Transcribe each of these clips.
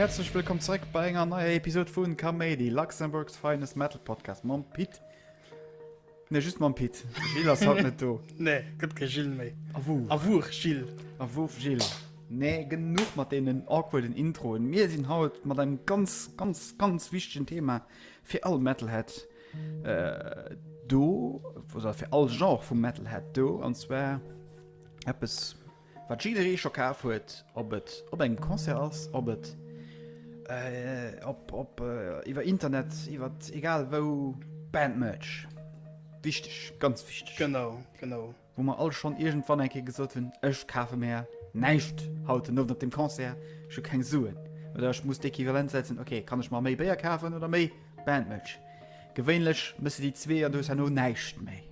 Häerzlech wëllkomm zréck bei enger neier Episod vun Kaméidi, Luxembourg's finest Metal Podcast mam Pit. Nee, just mam Pit. Gilles ass haut net do. Nee, gëtt kee Gilles méi. A wou? A wuch Gilles? A wuch Gilles? Nee, genuch mat deenen awkwarden Introen. Mir sinn haut mat engem ganz, ganz, ganz wichtegen Thema fir all Metalhead do, oder fir all Genre vum Metalhead do, an zwar eppes. Wat jidderee scho kaf huet, ob et op engem Concert ass, ob et iwwer Internet, iwwer egal wou, Bandmerch. Wichteg, ganz wichteg. Genau, genau. Wou mer all schonn iergendwann eng Kéier gesot hunn, ech kafe mer näischt haut den Owend op dem Concert, ech hu keng Suen oder ech muss d'Equivalent setzen, okay, kann ech mer méi Béier kafen oder méi. Bandmëtsch. Gewéinlech mësse déi zwee an dous herno näischt méi.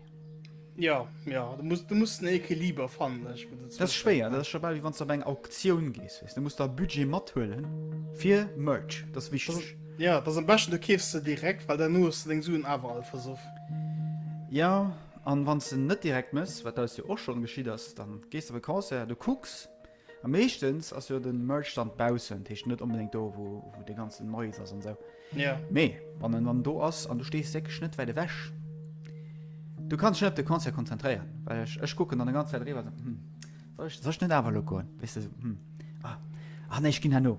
Ja, ja, du muss, du muss den Equiliber fannen. Ich, das ist schwer, das ist schon wie wann du bei einer Auktion gehst. Weißt? Du musst da Budget mitholen für Merch, das ist wichtig. Das, ja, das ist am besten, du käfst sie direkt, weil dann nur hast du den Suen aber all versucht. Ja, an wann du nicht direkt musst, was da ja auch schon geschieht ist, dann gehst du auf ein Konzert, du guckst, A meeschtens ass jo den Merch dann baussen, d'heescht net onbedéngt do wou wou de ganzen Noise ass an sou. Jo. Mee wann en dann do ass an du stees wierklech net wäit ewech, du kanns dech net op de Concert konzentréieren, well ech ech kucken dann e ganz Zäit eriwwer an sou, hm soll ech soll ech net awer elo goen, weess de sou, hm ah ah nee ech ginn herno.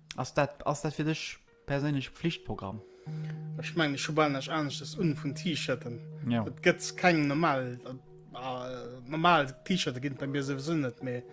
Ass dat, ass dat fir dech perséinlech Pflichtprogramm? Ech mengen ech hu bal näischt aneschtes un vun T-Shirten. Ja. Et gëtt keng normal äh, normal T-Shirte ginn et bei mir souwisou net, mee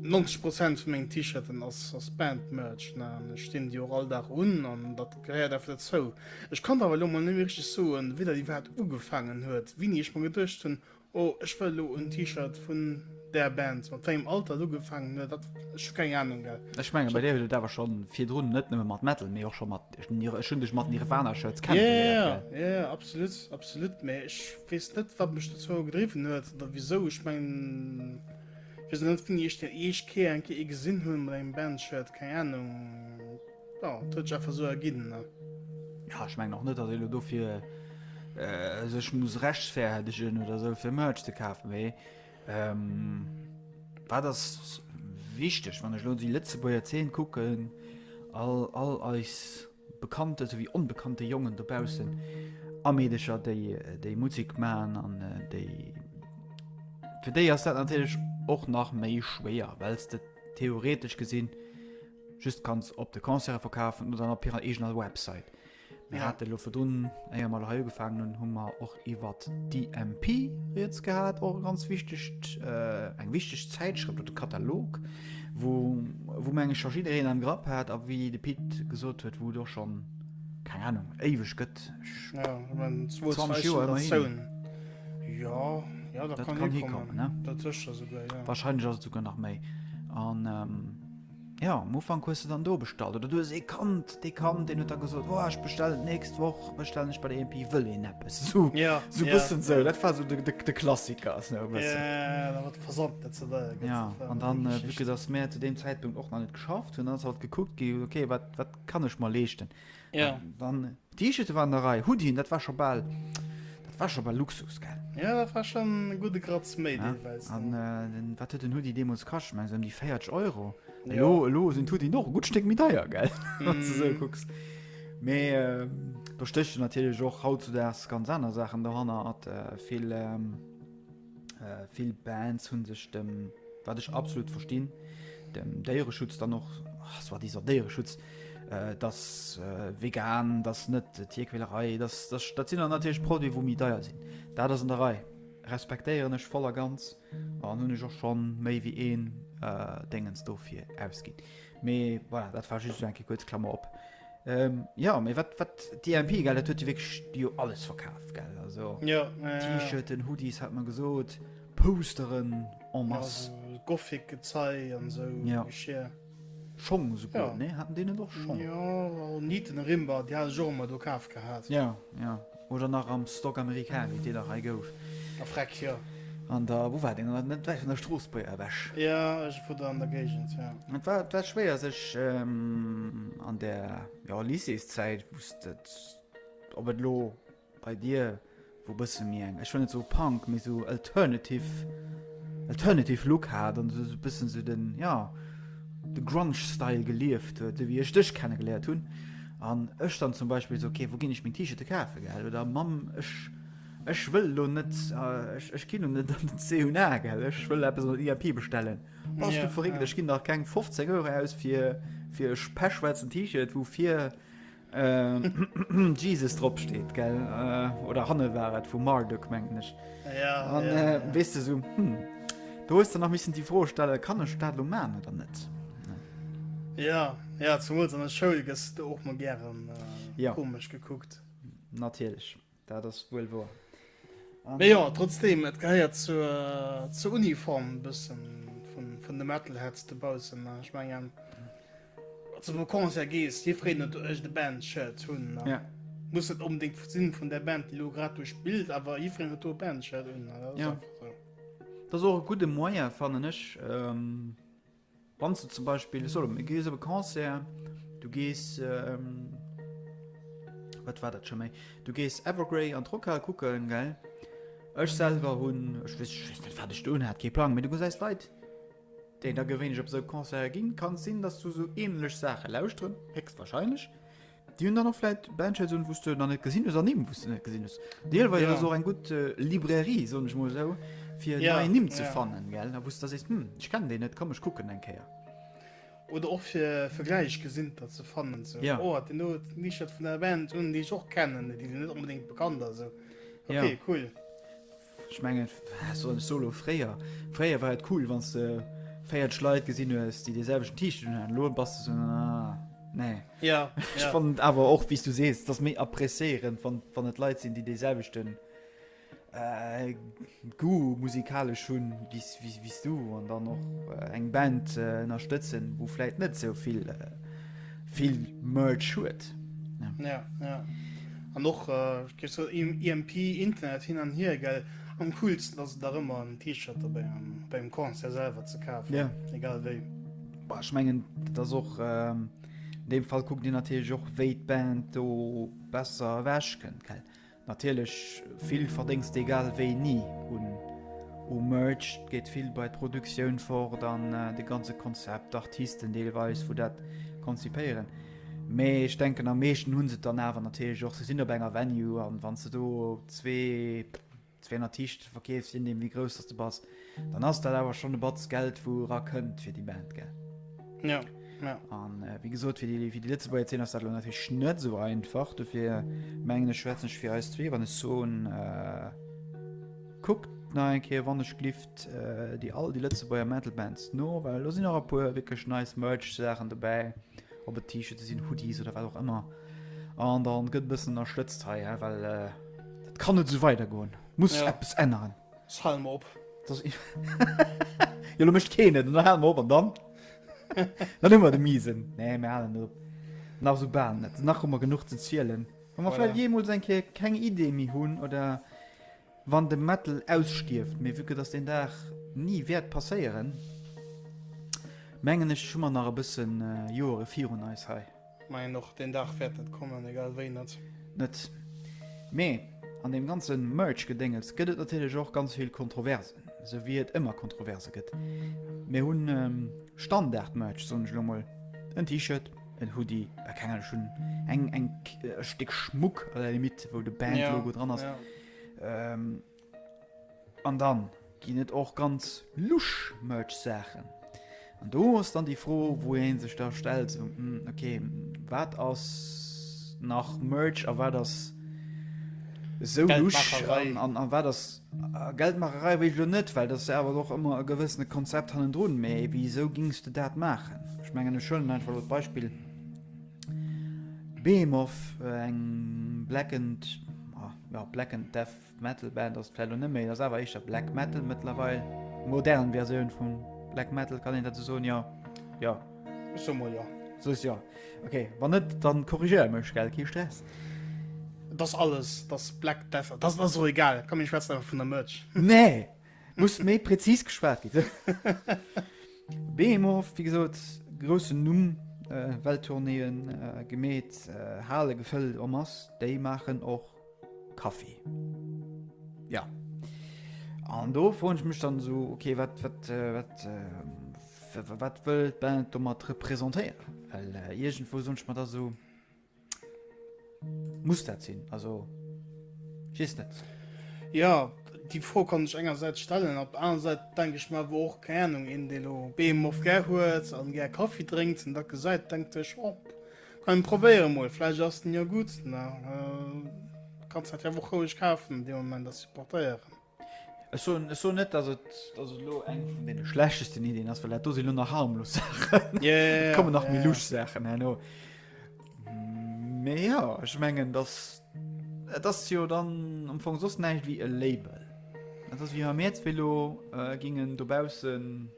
90 Prozent vu mengen T-Shirten ass, ass Band-Merch. Ne? An ech dinn déi och all Dag un an dat gehéiert einfach dozou. Ech kann awer elo mol net méi richteg soen, wéi dat iwwerhaapt ugefaangen huet, wéini ech mer geduecht hunn, Oh ech wëll lo en T-Shirt vun där Band. Mat wengem Alter et ugefangen huet dat ech hu keng Ahnung gell. Ech mengen bei dir huet et awer schon virdrun net nëmmen mat Metal mee och schon mat ech hun dech mat Nirvana Shirts kennengeléiert gell. Yeah yeah yeah absolut absolut mee ech wees net wat mech dozou gedriwwen huet oder wisou ech mengen wees och net wéini ech den eescht Kéier eng Kéier ee gesin hun mat engem Band Shirt keng Ahnung. Ja, et huet sech einfach esou erginn, ne? Ja, ech mengen och net, datt ee lo dofir sech muss rechtfäerdegen oder esou, fir Merch ze kafen. Mee wat ass wichteg, wann ech lo déi Lëtzebuerger Zeen kucken, all eis bekannte souwéi onbekannte Jongen dobaussen a Meedercher, déi Musek maachen an déi. Fir déi ass dat natierlech och nach méi schwéier, well s de theoretesch gesinn, Just kanns op de Concerte verkafen oder op hirer eegener Website. Mir hate lo virdrun, éier mer lo hei ugefaangen hunn, hu mer och iwwer d'IMP Rieds gehat, och e ganz wichtegt, eng wichteg Zäitschrëft oder Katalog, wou, wou meng ech scho jiddereen am Grapp hat a wéi de Pit gesot huet, wou et och schonn, keng Ahnung, éiweg gëtt. Jo, ech mengen 20 Joer immerhin. Jo, jo, dat kann hikommen, dat sécher esouguer, jo. Warscheinlech ass et esouguer nach méi an. Ja, am Ufank hues du dann do bestallt, oder du hues ee kannt, dee kannt, deen huet da gesot, oh, ech bestellen d'nächst Woch, bestellen ech bei der EMP, wëll een eppes. So, ja, so ja. bëssen so, dat war so de, de, de Klassiker. So, ja, da wat versammelt dat ze wëll. Ja, an dann, äh, wike, dass mär zu dem Zäitpunkt och nach net geschafft hunn, ass halt gekuckt gi, okay, wat, wat kann ech mer leeschten? Ja. Ähm, dann T-Shirt waren der Rei, Hoodien, dat war schon bal, dat war schon bal Luxus, gell? Ja, dat war schon en gute Gratz méi ja. deelweis. An äh, den, wat huet den Hoodie deemools kascht? Meng se um die 40 Euro. Ja. Elo, elo sinn Hoodie noch e gut Stéck méi deier, gell? Mm. Wann du so gucks. Mee äh, da stéchen natierlech och hautzudags ganz aner Sachen dohanner, hat äh, vill. Ähm, Vill Bands hunn sech dem, wat ech absolut verstinn, dem Déiereschutz dann och, soi-disant Déiereschutz, dass vegan, dass net Tierquälerei, dass, dass, dat sinn dann natierlech Produiten, wou méi deier sinn. Dat ass an der Rei, respektéieren ech voll a ganz an hunn ech och schonn méi wéi een Déngens dofir ausginn. Mee voilà, dat war just esou eng Kéier kuerz Klammer op. Jo, mee wat, wat d'EMP, gell, dat huet jo wierklech jo alles verkaf, gell, also T-Shirten, Hoodies, hat mer gesot, Posteren en masse. Also Gothic-Gezei an esou Geschir. Schong souguer, nee? Haten déi net och Schong? Jo, Nieten a Rimba, déi hat ech och ëmmer do kaf gehat. Jo, jo. Oder nach am Stock America, wéi d'Deeler hei gouf. A freck, jo. An der, wou war deen? Net wäit vun der Stroossbuerger ewech. Jo, iergendwou do an der Géigend, jo. Et war, et war schwéier sech an der, jo, Lycéeszäit, wou s de, ob et elo bei dir, wou e bësse méi eng, ech wëll net soe Punk, mee esou alternative, alternative Look hat an esou e bëssen esou den, jo, de Grunge-Style gelieft huet, esou wéi ech dech kenne geléiert hunn. An ech dann zum Beispill so, okay, wou ginn ech meng T-Shirte kafe, gell? Oder Mamm, ech, ech wëll elo net, ech, ech ginn elo net an den C&A, gell? Ech wëll eppes an der IAP bestellen. Bass du verréckt, ech ginn dach keng 15 Euro aus fir, fir e pechschwaarzen T-Shirt, wou vir Jesus drop steet, gell? Oder hanne war et vu Marduk, mengen ech. An, weess de, esou, hm, do hues de nach missen déi Fro stelle, kann ech dat elo man oder net? Ja, ja zumools an der Schoul gëss du och mol gären äh, ja. komesch gekuckt. Natierlech, dat ass wuel wor. Mee jo, trotzdem, et gehéiert zur, zur Uniform bëssen vun, vun de Metalheads de Bausen. Ech mengen, zu dem Concert gees, Dir freet net ech de Band-Shirt hunn. ne? Ja. Muss net unbedingt sinn vun der Band, déi lo grad duerch d'Bild, awer jiffreen huet do e Band-Shirt hunn. ne? Dat ass Ja. einfach so. Dat ass och e gudde Moyen, fannen ech, ähm, Wann s du zum Beispill solo mir gees op e Concert, du gees wat war dat scho méi, du gees Evergrey an d'Rockhal kucken, gell? Ech selwer hunn, ech wéss ech wéss net wat ech do unhat, kee Plang, mee du gesäis Leit, déi da gewéinlech op esou Concerten ginn. Kann sinn, dass du esou änlech Saache lauschteren, héchstwahrscheinlech. Déi hunn dann och vläit Bandshirts un, wou s de nach net gesinn hues an Nimm, wou s de net gesinn hues. Deelweis ass et och eng gutt Librairie, soen ech mol esou, fir nei Nimm ze fannen, gell, wou s da sees, hm, ech kennen deen net, komm ech kucken eng Kéier. Oder och fir Vergläichgesinnter ze fannen, sou, oh, deen do huet en T-Shirt vun där Band un, déi ech och kennen, déi sinn net onbedéngt bekannt a sou. Ok, cool. Ech mengen, wat soll ech soen, elo fréier, fréier war et cool, wann s de 40 Leit gesinn hues, déi dee selwechten T-Shirt unhaten. Elo bass de esou, ah, nee. Ja, Ech ja. fannen et awer och, wéi s du sees, et ass méi appréciéierend, wann, wann et Leit sinn, déi dee selwechten Goût musikalesch hunn wéi s, wéi, wéi s du an dann och eng Band ënnerstëtzen, wou vläicht net esou vill, vill Merch huet. Ja, ja. An och äh, so EMP e Internet hin an hier gell am coolsten ass da ëmmer en T-Shirt dabei am, beim Konzer selber ze kafen. Ja. Egal wéi. Boah, ich mengen das och ähm, dem Fall guckt Dir natürlich och wéi d'Band do besser wäsch kënnt gell. Natierlech vill Verdéngst egal wéi ni un u Merch, et geet vill bei d'Produktioun fort an de ganze Konzept, d'Artisten deelweis wou dat konzipéieren. Mee ech denken am meeschten hunn se et dann awer natierlech och, se sinn op enger Venue an wann s de do zwee, 200 T-Shirte verkeefs, je nodeem wéi grouss dass de bass, Dann ass dat awer schon e Batz Geld wou era kënnt fir déi Band gell? Jo. Jo. An wéi gesot fir déi fir déi Lëtzebuerger Zeen ass dat elo natierlech net esou einfach. Dofir mengen ech schwätzen ech fir eis zwee wann ech soen, kuckt nach eng Kéier wann ech gelift déi all déi Lëtzebuerger Metal Bands no, well elo sinn och e puer wierklech nice Merch Saachen dobäi, ob et T-Shirte sinn, Hoodies oder wat och ëmmer. An dann gëtt e bëssen ënnerstëtzt hei, well dat kann net esou weidergoen. Muss eppes änneren. S, Hal mer op. Jo lo mécht keen et, hal mer op an dann? Dann hu mer de Miesen. Nee mir halen net op. Nach esou bal net. Nach hu mer genuch ze zielen. Wa mer vläicht jeemools eng Kéier keng Idee méi hunn oder wann de Metal ausstierft, mee vu que dass deen Dag ni wäert passéieren, mengen ech hu mer nach e bëssen Joere virun eis hei. Majo och deen Dag wärt net kommen, egal wéi net. Net. Mee an deem ganzen Merch Gedéngels gëtt et natierlech och ganz vill Kontroversen, sou wéi et ëmmer Kontroverse gëtt. Mir hunn Standard Merch, soen ech elo mol, en T-Shirt, en Hoodie, a keng Ahnung, ech hunn eng eng e Stéck Schmuck à la limite wou de Band Logo dran ass. An dann ginn et och ganz lusch Merch Saachen. An do ass dann déi Fro wou een sech da stellt sou ok wat ass nach Merch a wat ass sou lusch an an wat ass Geldmaacherei wéi ech elo net, well dat ass jo awer och ëmmer e gewëssene Konzept hannendrun. Mee wisou gings de dat maachen? Ech mengen ech huelen einfach elo d'Beispill Behemoth, eng Blackened, jo Blackened Death Metal Band ass et vläit elo net méi, et ass awer éischter Black Metal mëttlerweil. Modern Versioun vu Black Metal, kann een dat esou soen? Jo. Jo. Ech soe mol jo. Soes jo. Ok, wann net, dann korrigéier mech, gell? Kee Stress. Et ass alles, et ass Black Death, et ass, et ass och egal, komm mir schwätzen einfach vun der Merch. Nee! Muss méi präzis geschwat ginn, hä? Behemoth, wéi gesot, groussen Numm, Welttournéeën gemeet, Hale gefëllt en masse, déi maachen och. Kaffi. Ja. An do froen ech mech dann so okay wat wat äh, wat äh, wat wëll d'Band do mat repräsentéieren? Well äh, iergendwo sonch mat da so muss dat sinn also schies net. Ja die Fro kann ech engersäits stellen, op aner Säit denk ech mar wo och Kärnung en Delo Beem of ger huet an ger Kaffi drénkt en da gesäit denkt ech op. Oh, Komm probéieren mol, vläicht ass den jo gudd, na kanns dat jo och roueg kafen an dee Moment a supportéieren. Ech soen, ech soen net dass et, dass et elo eng vun deene schlechtesten Ideen ass, well dat do sinn elo nach harmlos Saachen, yeah, yeah, yeah, et kommen nach yeah, méi yeah. lusch Saachen herno. Mee ja, ech mengen dass et ass jo dann am Fong soss näischt wéi e Label. Et ass wéi wa mir jetzt Velo äh, gingen dobaussen.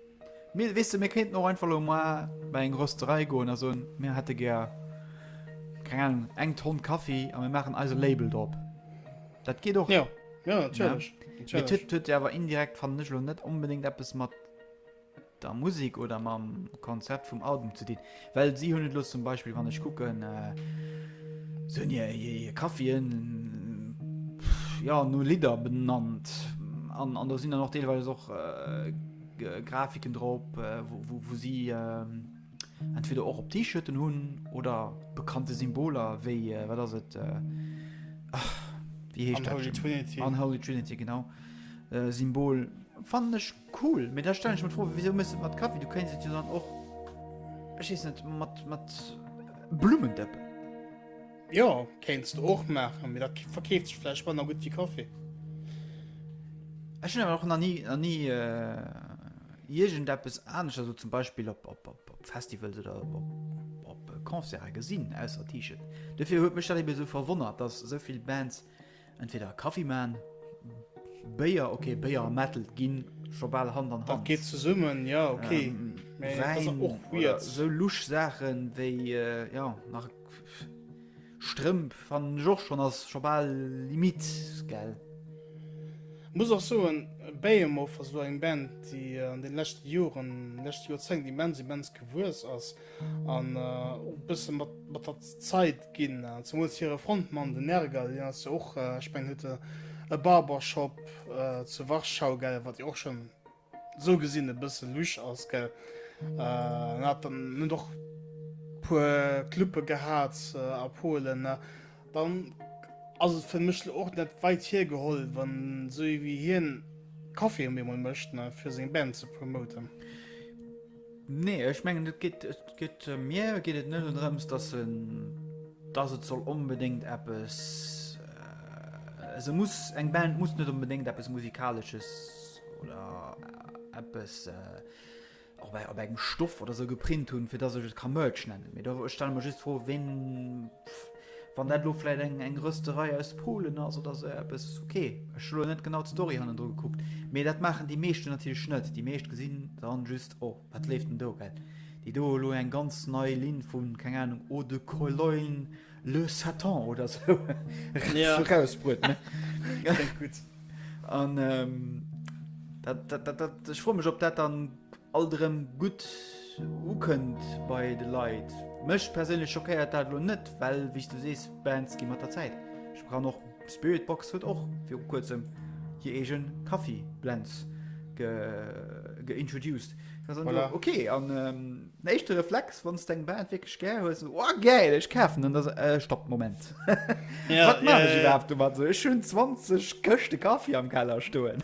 Mir, weess de, mir kéinten och einfach elo mar bei eng Rösterei goen a soen, mir hätte gär, keng Ahnung, eng Tonn Kaffi a mir maachen eise Label drop. Dat geet och. Ja, ja, natierlech. Mee et huet jo awer indirekt, fannen ech elo, net onbedéngt eppes mat der Musek oder mam Konzept vum Album ze dinn. Well si hunn et elo zum Beispill, wann ech kucken, si hunn hir Kaffien ja no Lidder benannt. An do sinn dann och deelweis och Grafiken drop, wou si entweder och op T-Shirten hunn oder bekannte Symboler wéi, wat ass et, wéi heescht dat? Unholy Trinity. Unholy Trinity, genau. Symbol fannen ech. Cool, mee da stellen ech mer d'Fro, wisou méchs de et mat Kaffi? Du kéints et jo dann och, ech weess net, mat, mat Blummen dëppen. Jo, kéints de och maachen, mee dat verkeeft sech vläicht manner gutt wéi Kaffi. Ech hunn awer och nach ni, nach ni iergendeppes anescht, also zum Beispill op, op, op, op Festivals oder op, op, op Concerte gesinn, ausser T-Shirt. Dofir huet mech dat ebe sou verwonnert, dass esou vill Bands Entweder Kaffi man, Béier, ok Béier a Metal ginn scho bal Hand an Hand. Geet zesummen ja ok sou luch Saachen wéi ja nach Strëmp van Joch schon ass scho bal Limit gell. Muss och soen Behemoth ass lo eng Band déi an den leschte Joren lescht Joerzéngt immens immens gewuess ass. an och e bësse mat mat der Zeit ginn, zemools hire Frontmann den Nergal, deen ass jo och, ech mengen huet e e Barbershop zu Warschau, gell, wat jo och schon esou gesinn e bësse lusch ass, gell, en hat dann en huet och puer Clube gehat a Polen, dann ass et fir mech och net weit hiergeholl, wann esou ee wéi hien Caféen op eemol mécht fir seng Band ze promoten. Nee, ech mengen et geet et geet mir geet et net drëms, dass se dass et soll onbedéngt eppes äh, se muss eng Band muss net onbedéngt eppes musikalesches oder äh, eppes äh, op, e- op engem Stoff oder se geprint hunn, fir dass ech et ka Merch nennen. Mee do ech stelle mer just fro, ween Wann dat elo vläit eng eng Rösterei aus Polen ass oder esou eppes, ok. Ech hu elo net genau d'Story hannendru gekuckt, mee dat maachen déi meeschten natierlech net. Déi meescht gesinn dann just, oh wat leeft denn do? Well déi do elo eng ganz nei Linn vu, keng Ahnung, Eau de Cologne Le Satan oder esou Ja. rausbruet, ne? Kléngt gutt. An dat, dat, dat, dat, ech froe mech, ob dat dann alt erëm gutt ukënnt bei de Leit. Mech perséinlech schockéiert dat elo net, well wéi s du sees, Bands gi mat der Zäit bekannt. Och Spiritbox huet och viru kuerzem hir eege Kaffi Blends geintroduced. Ok, an den éischte Reflex, wann s d'eng Band wierklech gär hues, ass, Oh gäil, ech kafen en! Ass, Stopp, Moment, wat maachen ech iwwerhaapt domat? Ech hunn 20 Këschte Kaffi am Keller stoen.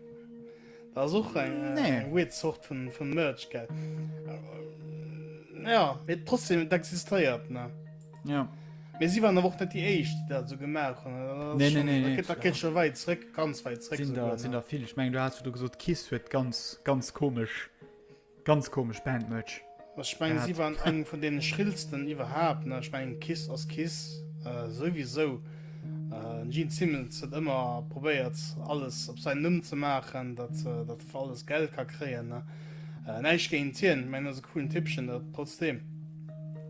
Da ass och eng äh, Nee. weird Sort vun, vun Merch, gell? Äh, Ja, et trotzdem, et existéiert, ne? Ja. Mee si waren awer och net déi Éischt, déi dat esou gemaach hunn. Dat ass Nee, nee, schon- nee, dat nee, geht- Dat geet scho wäit zréck, ganz wäit zréck Sinn sogar, der, sinn ne? der vill. Ech mengen, du has du gesot, Kiss huet ganz, ganz komesch Ganz komesch Bandmerch. Also ech mengen si waren eng vun deenen schrillsten iwwerhaapt ne, ech mengen Kiss ass Kiss souwisou, den Gene Simmons huet ëmmer probéiert alles op säin Numm ze maachen, datt datt e fir alles Geld ka kréien ne, näischt géint hien, ech mengen ass e coolen Typpchen dat trotzdeem.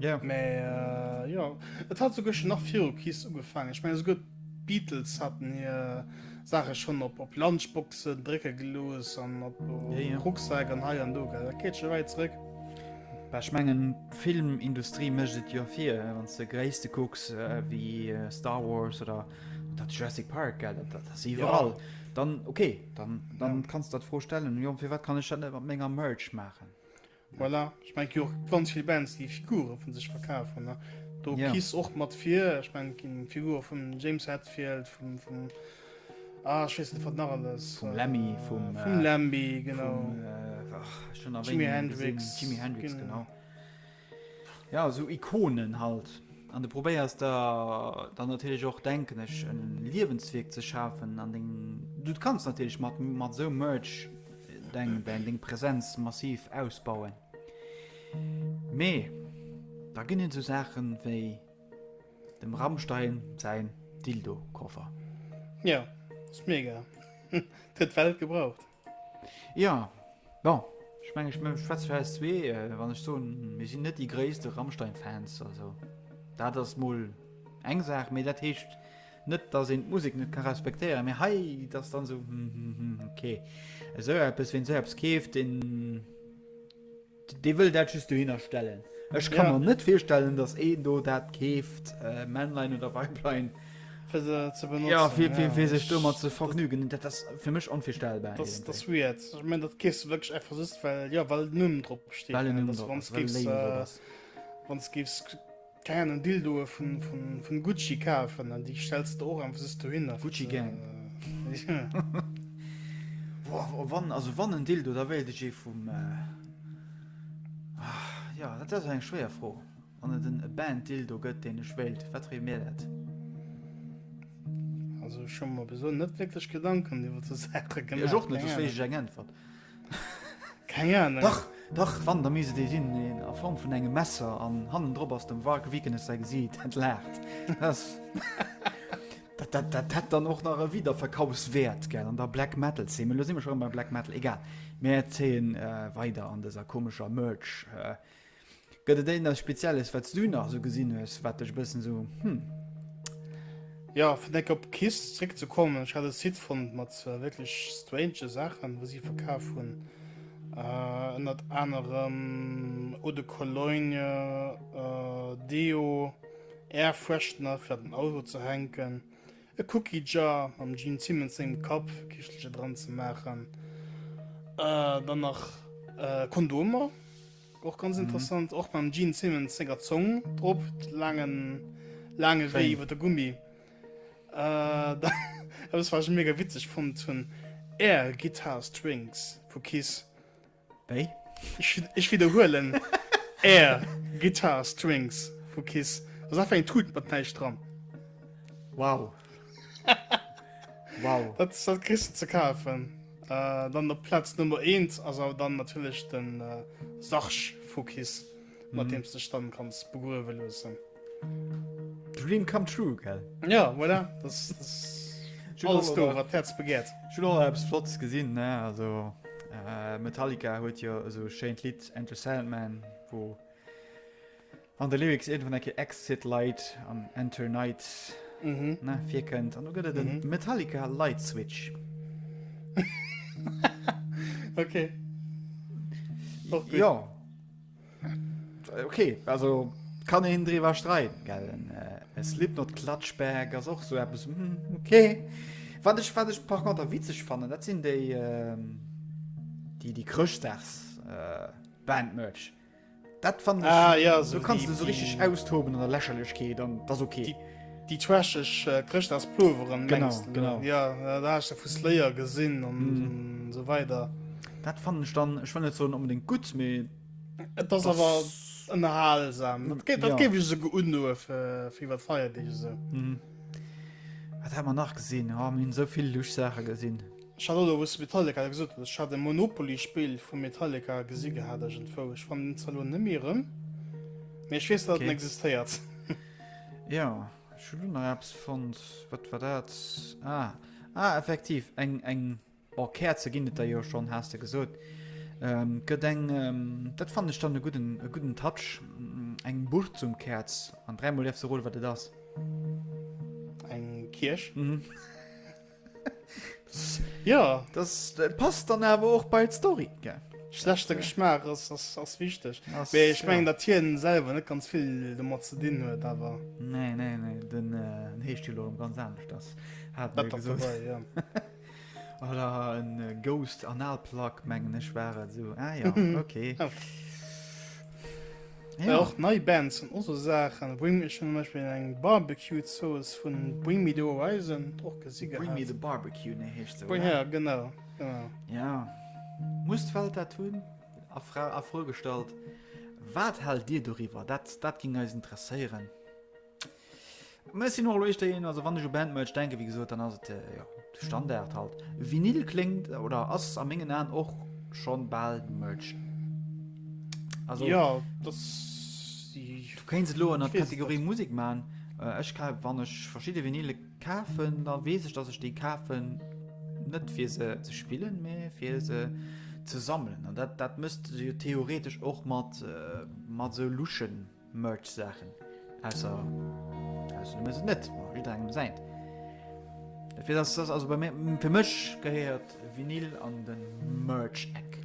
Jo. Mä jo, et hat souguer scho nach viru Kiss ugefaangen, ech mengen souguer d'Beatles haten hir. Saache schonn op op Lunchboxen drécke gelooss an op Rucksak an hei an do, gell? Dat geet scho wäit zrëck. Bah, ech mengen, d'Filmindustrie mécht et jo vir, wann s de Gréisste kucks ewéi Star Wars oder dat Jurassic Park, gell? Dat, dat ass iwwerall. Dann, okay, dann, dann kanns de der d'Fro stellen, jo, firwat kann ech dat net mat menger Merch maachen? Voilà, ech mein jo ganz vill Bands déi Figure vun sech verkafen ne do yeah. kies och mat fir ech mein ginn Figur vum James Hetfield vum vum ah, schwessen wat nach alles vum Lemmy äh, vum vum äh, Lemmy genau vum, äh, ach, schon Jimi Hendrix Jimi Hendrix genau, genau. Ja so Ikonen halt an de probéiers da dann natürlich och denken ech en Liwensweg ze schafen an den du kannst natürlich mat mat so Merch deng deng deng Präsenz massiv ausbauen. Mee da ginn et esou Saachen wéi dem Rammstein säin Dildo-Koffer. Jo, ass mega. Et huet d'Welt gebraucht. Jo, bon, ech mengen, ech schwätze fir eis zwee, wann ech soen, mir sinn net déi gréisste Rammstein-Fans. Also dat ass mol eng Saach. Mee dat heescht Net dass een d'Musek net ka respektéieren, mee hei et ass dann esou hm hm hm ok. Esou eppes, ween esou eppes keeft, deen dee wëll dat just dohinner stellen. Ech ka Ja. mer net virstellen, dass een do dat keeft, äh, Männlein oder Weiblein, Fir se ze benotzen. ja, fir fir fir sech domat ze dat- vergnügen. Dat ass fir mech onvirstellbar Das, irgendwie. das weird. Ich mein, das gehst du wirklich einfach just, weil, ja, weil Numm drop steht. Well en ne? Numm Dass drop ass, wann's well en gibst, Label drop äh, ass. wann's gibst Keieren en Dildoe vun Gucci kafen an déi stells de der och einfach sos dohin a. Gucci Gang. Also wann en Dildo, da wéilt ech ee vum. Jo, dat ass eng schwéier Fro. Wann et en Banned Dildo gëtt, deen ech wéilt, wat wéilt mir dat? Also ech hu mer bis elo net wierklech Gedanken iwwer esou Saache gemaach. Ech och net, dosou wéilt ech eng Äntwert. Keng Ahnung. Dach, dach, wann, da misst et ee sinn, een a Form vun engem Messer, an hannen drop ass dem Varg Vikernes säi Gesiit. Et laacht. Dat, dat, dat hätt dann och nach e Wiederverkaufswäert, gell, an der Black Metal Zeen. Mee elo si mer scho rëm bei Black Metal, egal. Mir zéien weider an dëser komescher Merch, Gëtt et énners spezielles wats du nach esou gesinn hues wat dech e bëssen esou hm. Jo, fir eng op KISS zréck ze kommen, ech hat e Site fonnt mat wierklech strange Saachen, wou si verkaf hunn. Ënnert anerem Eau de Cologne, Deo, Air Freshener fir an den Auto ze hänken, e Cookie Jar mam Gene Simmons sengem Kapp fir Kischtelcher dran ze maachen, dann nach Kondomer. Och ganz interessant mhm. och beim Gene Simmons senger Zong drop langen lange Wee iwwer der Gummi äh, das war schon mega witzig von hun Air Guitar Strings vu Kiss hey. ich, ich wiederholen Air Guitar Strings vu Kiss was einfach ein tut mat dran Wow Wow. Dat dat kriss du ze kafen. Äh, dann op Platz Nummer 1 ass awer dann natierlech den äh, Sarge vu Kiss, mat deem du dech dann kanns begruewe loossen. Dream come true, gell? Ja, voilà, das das ass alles do, wat d'Häerz begehrt. Ech hunn och nach eppes Flottes gesinn, ne? Also äh, Metallica huet jo esou e schéint Lidd Enter Sandman, wou Wann de Lyrics irgendwann enke Exit Light an Enter Night ne, virkënnt, an du gëtt et den Metallica Light Switch. okay. Ja. Okay, also kann een drwer streiten gellen äh, es lipp not klatschberg as och so bis hm, okay wat ech wat ech par konter witzeg fannen dat sinn déi ähm, die die krchtdags äh, bandmerch Dat fannen ech, ah, ja, so du kanns du so richtig austoben an der Lächerlechkeet an das okay. Die, die trashig äh, Christachspulveren genau, meinst, genau. Ja, äh, da hast du vu Slayer gesinn an mm. so weiter. Dat fannen ich dann ich fand so unbedingt gut me Et ass awer ënnerhalsam. Dat géif dat géif ech esouguer undoe fir fir iwwer d'Feier Deeg esou. Wat hat man nach gesinn? Ha hunn souvill Luchsaache gesinn. Ech hat och elo wou s de Metallica da gesot hues, ech hat e Monopoly Spill vu Metallica gesi gehat iergendwou, ech fannen en zwar elo net méi erëm, mee ech weess dat en existéiert. Jo, ech hunn elo nach eppes fonnt, wat war dat? Ah, ah effektiv eng, eng, oh Käerze ginn et der jo schonn, has de gesot. Et gëtt eng, dat fannen ech dann e gudden, e gudden Touch, eng Burzumkäerz an dräimol däerfs de roden wat et ass. Eng Kierch? Mhm. Ja das passt dann awer och bei d'Story ge. Schlechte Geschmaach ass ass ass wichteg. Ass, Mee ech mengen ja. dat hien selwer net ganz vill domat ze dinn huet awer. Nee nee nee den äh, heescht jo lo ganz anescht ass hat Dat ass gesot. vorbei, ja. Oder en äh, Ghost Analplack mengen ech war et so. Ah ja, okay. Ja. Ja. Och nei Bands an also Saachen Bring me schon Beispiel eng Barbecue Zooss vun Bring me the Horizon och gesi Bring me the Barbecue ne hecht se Bring, ja, genau, genau. Ja Must Welt dat hunn a Fra a Fro gestalt. Wat hal Dir doriwwer? Dat dat ging eis interesséieren. Mir sinn och lo éischter een, also wann ech u Bandmerch denken, wéi gesot, dann ass et jo de Standard halt. Vinyl kléngt oder ass a mengen Aen och schonn bal Merch. Also ja, dat du kéinst et lo an der Kategorie Musik man. Ech ka wann ech verschidde Vinyle kafen, da weess ech, datt ech déi kafen net fir se ze spillen, mee fir se ze sammeln. An dat dat mësst se jo theoretesch och mat mat sou luschen. Merch Saachen ausser aus dem es net engem se fir das das also bei mir fir mech gehéiert vinil an den Merch Eck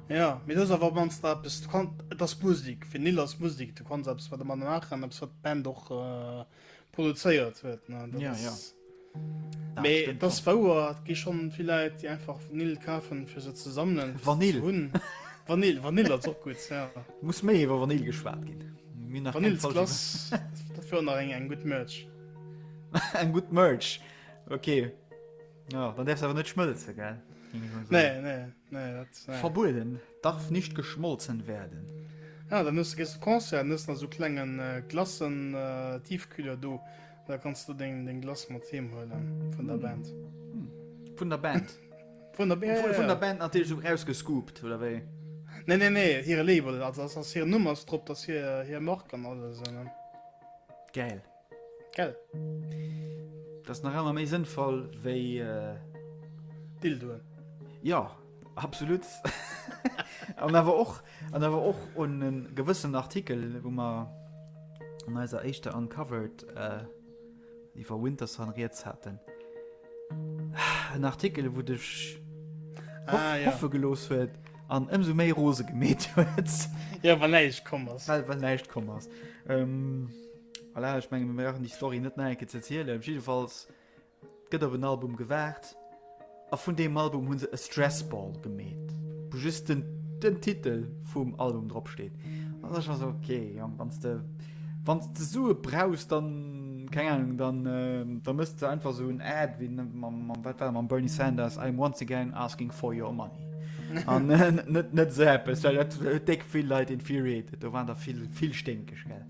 ja mir das awer man da bist du kann das Musik vinil ass Musik du kannst selbst wat man nach an wat Band och äh, produzéiert huet das Bauer gi schon vielleicht die einfach Vanille kaufen für se zu sammeln Vanille hun Vanille Vanille als auch gut ja. muss méi iwwer Vanille geschwaart gin eng gut Merch eng gut Merch okay ja, dann derfs awer net schmëlze ge nee, nee. Nee, dat, nee. Verbueden, darf nicht geschmolzen werden. Ja, dann hues du gees op Concert, hues nach sou klengen äh, Glassen äh, Tiefkühler do, da kannst du deng, deng Glace mat heem huelen vun der Band. Vun der Band. Vun der, ja, Vun, ja, vun der ja. Band natierlech so rausgescoopt, oder wéi? Nee, nee, nee, hire Label, also ass, ass hire Numm ass drop, dass hir, hir Mark an alles. Äh, ne? Geil. Gell? Dat ass nach ëmmer méi sënnvoll wéi. Dildoen. Jo, absolut. An awer och an awer och un e gewëssenen Artikel, wou mer an eiser éischter Uncovered iwwer Winterson riets haten. En Artikel, wou dech hoffe gelooss huet an ëmsou méi rose gemeet huet. Jo, well näischt komm ass. Well näischt komm ass. Voilà, ech menge mir brauchen déi Story net nach eng Kéier ze erzielen. Op jiddefalls gëtt op en Album gewaart a vun deem Album hunn se e Stressball gemeet, wou just den, den Titel vum Album dropsteet. An da war se okay, Jong, wann de, wann de Sue brauchs, dann keng Ahnung, dann, äh, dann mësst du einfach so en Ad wéi mam, mam, wat war mam Bernie Sanders, I'm once again asking for your money. An äh, net, net so eppes, well dat huet déck vill Leit infuriated. Do waren der vill, vill sténkeg, gell.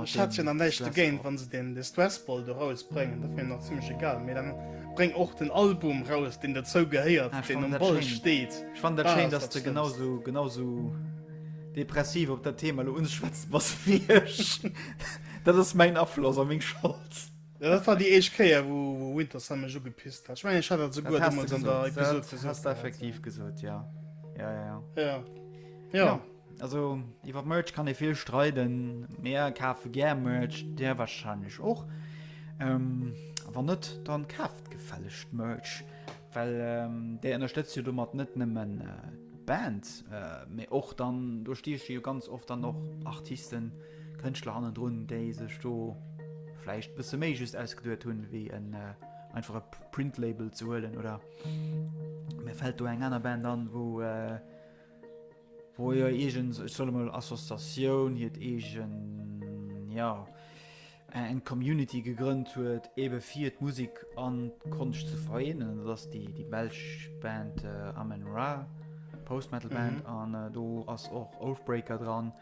Ech hat jo nach näischt dogéint, wann se den Distress Ball do raus bréngen, dat wier mir nach zimlech egal, mee dann bréng och den Album raus, deen derzou gehéiert, deen um Ball steet. Ech fannen dat schéin, dass de genausou, genausou depressiv op dat Thema elo unschwätzen bass wéi ech. Dat ass mäin Afloss a meng Schold. Jo, dat war déi éischt Kéier, wou Winterson mech ugepisst hat. Ech mengen, ech hat dat souguer deemools an der Episod gesot. Dat hat de effektiv gesot, jo. Jo, jo, jo. Jo. Also iwwer Merch kann ee vill streiden. Mir kafe gär Merch, där wahrscheinlech och. Ähm, wann net, dann kaaft gefällegst Merch, well ähm, där ënnerstëtzt jo domat net nëmmen d'Band, mee och dann do stieche jo ganz oft dann och Artisten, Kënschtler hannendrun, déi sech do vläicht bësse méi just ausgeduet hunn, wéi en einfach e Printlabel ze huelen. Oder mir fält do eng aner Band an, wou. Wou jo eegens, ech soll emol, Associatioun hiert eegen, ja, eng Community gegrënnt huet, ebe fir d'Musek an d'Konscht ze vereenen. Dat ass déi, déi belsch Band Amon Ra, Post-Metal Band. An do ass och Oathbreaker dran,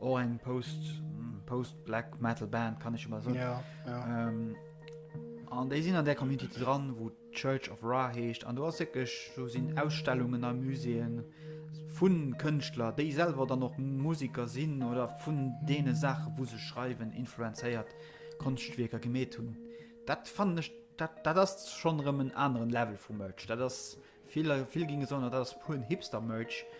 och eng Post, Post-Black Metal Band, kann ech emol soen. An déi sinn an där Community dran, wou. Church of Ra heescht an do ass wierklech, do sinn Ausstellungen a Muséeën vu Kënschtler, déi selwer dann och Musiker sinn oder vun deene Saachen, wou se schreiwen, influenzéiert Konschtwierker gemeet hunn. Dat fannen ech, dat, dat ass schonn erëm en aneren Level vu Merch. Dat ass, vill, vill géinge soen, dat ass puren Hipster-Merch.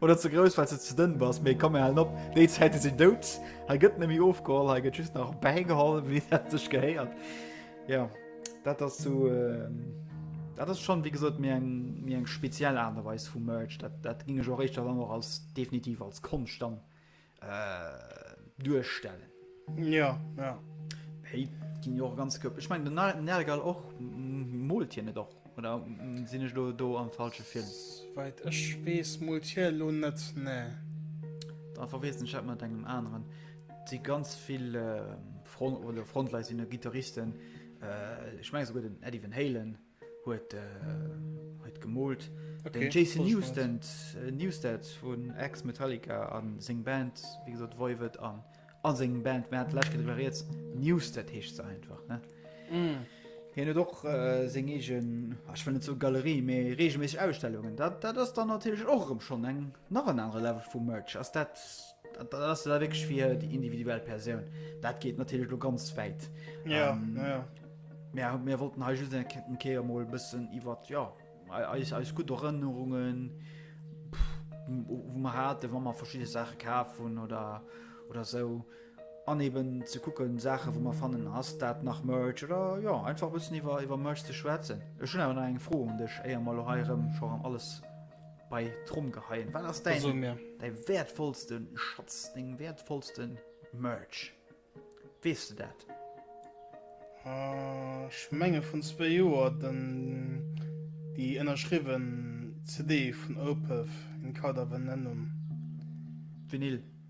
Oder ze grouss wat se ze dënn bass méi kom halen op déi Zäite sinn dout ha gëtt nemmi ofgeholl ha gëtt just nach bäigeholl wéi dat sech gehéiert ja dat ass zu so, ähm, dat ass schon wie gesot mir eng mir eng speziell anerweis vum Merch dat dat ginge jo richcht dann noch als definitiv als Konscht dann duerstellen. Ja, ja. Hey, ginn jo och ganz Köpp. Ech meng den Nergal och molt hien net och oder mm, sinn ech do, do am falsche Film? Weit ech wees molt hie lo net ne. Da verweessen Chat mat engem aneren. Si ganz vill äh, Front oder Frontleisinne Gitarristen. Äh, ech meng esouguer den Eddie Van Halen. huet huet gemoolt. Okay, den Jason Newsted, äh, Newsted vun ex Metallica an seng Band wie gesot Voivod an an seng Band Matt Lash iwwer jetzt Newsted heescht ze einfach ne. Mm. Hien huet och äh, seng egen ach, ich will net so Galerie méi regelméisseg Ausstellungen. Dat dat ass dann natürlich och rem schon eng nach en anere Level vu Merch. Ass dat Dat ass jo da wierklech fir déi individuell Persoun. Dat geet natierlech elo ganz wäit. Ja, ähm, ja. Mär, mär wollten hei just eng Ketten Keer mol e bëssen iwwer ja, eis, eis gut Erënnerungen wo man hatte, wann man verschiedene Sachen kaf hun oder oder so aneben ze kucken Sache wo man fannen ass dat nach Merch oder ja einfach bëssen iwwer iwwer Merch ze schwätzen. Ech hun awer nach eng Fro un dech éier mal heirem schon alles Bei Tromm geheien. Wat ass däi däi wäertvollste Schatz deng wäertvollsten Merch? Wees du dat? Schmenge vun zwee Joer den déi ënnerschriwwen CD vun Opeth, In Cauda Venenum. Vinyl.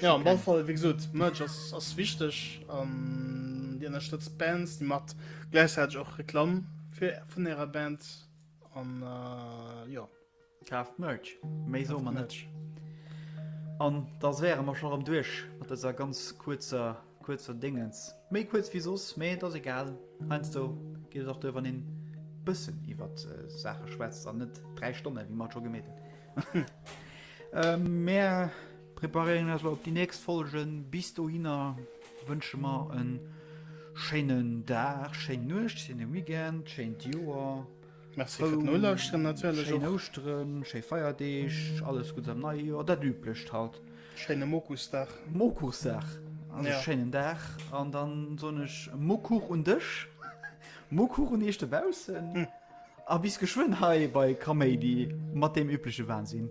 Ja, am Ballfall, wéi gesot, Merch ass, ass wichteg an Dir ënnerstëtzt Bands, Dir macht gläichzäiteg och Reklamm fir, vun Ärer Band an äh, jo. Kaaft Merch, méi soe mer net. An da wäre mer scho rëm duerch mat dëser ganz kuerzer Kuerz fir Déngens. Méi kuerz wéi soss, mee et ass egal. Heiansdo geet et och duer, wann een e bëssen iwwer Saache schwätzt an net dräi Stonnen, wéi mer et scho gemeet hunn. Mir preparéieren eis elo op déi nächst Folgen. Bis dohinner wënsche mer e schéinen Dag, schéin Nuecht, schéine Weekend, schéint Joer. Merci fir den Nolauschteren natierlech och. Schéin Ouschteren, schéi Feierdeeg, alles Guddes am neie Joer, dat Üblecht halt. Schéine Mokussdag. Mokussdag, also ja. Schéinen Dag an dann soen ech Mokuch un dech, Mokuch un iech dobaussen. Hm. A bis geschwënn hei bei Kaméidi mat deem übleche Wahnsinn.